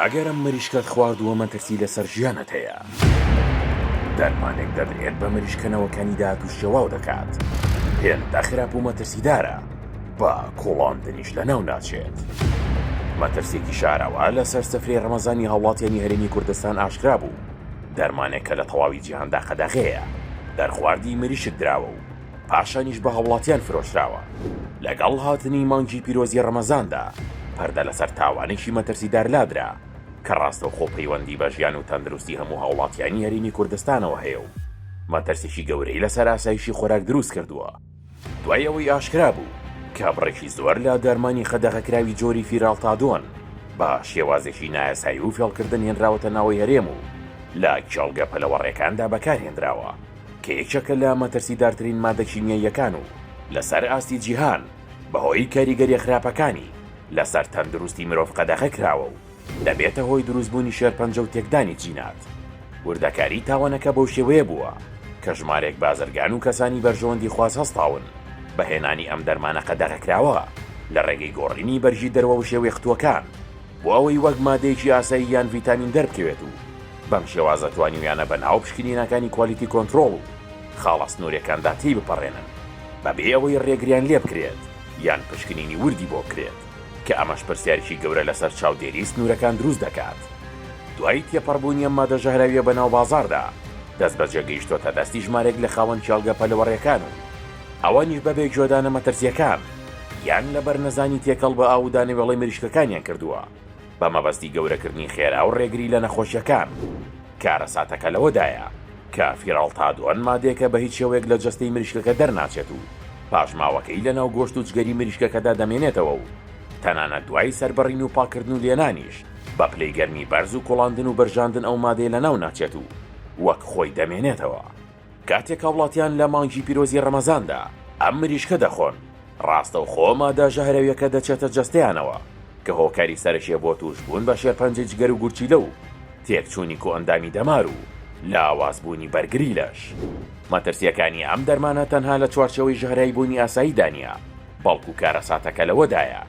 ئەگەر ئەم مریشکەت خواردووە مەترسی لەسەر ژیانت هەیە. دەرمانێک دەدرێت بە مریشکە نەوەکانی داهات و شێواو دەکات. هێندە خراپ و مەترسیدارە بە کوڵاندنیش لەناو ناچێت. مەترسێکی شاراوە لەسەر سفرەی رەمەزانی هاوڵاتیانی هەرێمی کوردستان ئاشکرا بوو. دەرمانێک کە لە تەواوی جیهاندا قەدەغەیە. دەرخواردی مریشک دراوە و پاشانیش بە هاوڵاتیان فرۆشراوە. لەگەڵ هاتنی مانگی پیرۆزی ڕەمەزاندا، پەردە لەسەر تاوانێکی مەترسیدار لادرا کە ڕاستەوخۆ پەیوەندی بە ژیان و تەندروستی هەموو هاوڵاتیانی هەرێمی کوردستانەوە هەیە و مەترسیی گەورەی لەسەر ئاسایشی خۆراک دروست کردووە. دوای ئەوەی ئاشکرا بوو کە بڕێکی زۆر لە دەرمانی قەدەغەکراوی جۆری فیرالتادۆن بە شێوازێکی نایاسایی و فێڵکردن هێنراوەتە ناوەی هەرێم و لە کێڵگە پەلەوەڕێکاندا بەکارهێنراوە، کە یەکێکە لە مەترسیدارترین مادە کیمیاییەکان و لەسەر ئاستی جیهان بەهۆی کاریگەرییە خراپەکانی لەسەر تەندروستی مرۆڤ قەدەغە کراوە و دەبێتە هۆی دروستبوونی شێرپەنجە و تێکدانی جینات. وردەکاریی تاوانەکە بەو شێوەیە بووە کە ژمارێک بازرگان و کەسانی بەرژەوەندیخواز هەستاون بە هێنانی ئەم دەرمانە قەدەغەکراوە لە ڕێگەی گۆڕینی بەرگی دەروە وشێوەی قتووەکان بۆ ئەوەی وەک مادەیەکی ئاسایی یان ڤیتامین دەربکەوێت و بەم شێوازە توانیویانە بە ناو پشکنینەکانی کوالیتی کۆنترۆڵ و خاڵە سنوورێکاندا تێیبپەڕێنن بەبێ ئەوەی رێگریان لێبکرێت یان پشکنینی وردی بۆ بکرێت کە ئەمەش پرسیارێکی گەورە لەسەر چاودێریی سنوورەکان دروست دەکات. دوای تێپەڕبوونی ئەم مادە ژەهراوییە بەناو بازاڕدا، دەستبەجێ گەیشتۆتە دەستی ژمارێک لە خاوەن کێڵگە پەلەوەڕێکان و ئەوانیش بەبێ گوێدانە مەترسییەکان یان لەبەر نەزانی تێکەڵ بە ئاو و دانەوێڵەی مریشکەکانیان کردووە. بە مەبەستی گەورەکردنی خێرا و ڕێگری لە نەخۆشیەکان. کارەساتەکە لەوەدایە کە فیرالتادۆن مادەیەکە بەهیچ شێوەیەک لە جەستەی مریشکەکە دەرناچێت و پاشماوەکەی لەناو گۆشت و جگەری مریشکەکەدا دەمێنێتەوە و تەنانەت دوای سەربڕین و پاککردن و لێنانیش بە پلەی گەرمی بەرز و کوڵاندن و بەرژاندن ئەو مادەیە لەناو ناچێت و وەک خۆی دەمێنێتەوە. کاتێک هاوڵاتیان لە مانگی پیرۆزی ڕەمەزاندا ئەم مریشکە دەخۆن، ڕاستەوخۆ مادە ژەهراویەکە دەچێتە جەستەیانەوە کە هۆکاری سەرەکیە بۆ توشبوون بە شێرپەنجەی جگەر و گورچیلە و تێکچوونی کۆئەندامی دەمار و لاوازبوونی بەرگری لەش. مەترسیەکانی ئەم دەرمانە تەنها لە چوارچێوەی ژەهراویبوونی ئاساییدا نیە، بەڵکو کارەساتەکە لەوەدایە،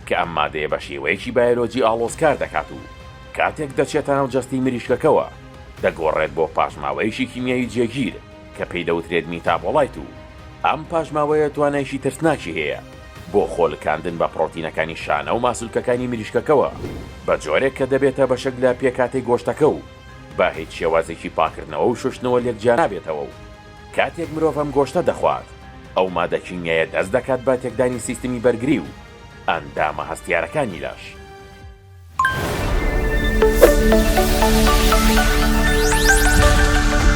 کە ئەم مادەیە بە شێوەیەکی بایۆلۆجی ئاڵۆز کار دەکات و کاتێک دەچێتە ناو جەستەی مریشکەکەوە دەگۆڕێت بۆ پاشماوەیەکی کیمیایی جێگیر کە پێی دەوترێت میتابۆڵایت و ئەم پاشماوەیە توانایەکی ترسناکی هەیە بۆ خۆلکاندن بە پڕۆتینەکانی شانە و ماسولکەکانی مریشکەکەوە بە جۆرێک کە دەبێتە بەشێک لە پێکهاتەی گۆشتەکە و بە هیچ شێوازێکی پاکردنەوە و شۆشتنەوە لێک جیانابێتەوە و کاتێک مرۆڤ ئەم گۆشتە دەخوات، ئەو مادە کیمیایە دەست دەکات بە تێکدانی سیستمی بەرگری و ئەندامە هەستیارەکانی لەش.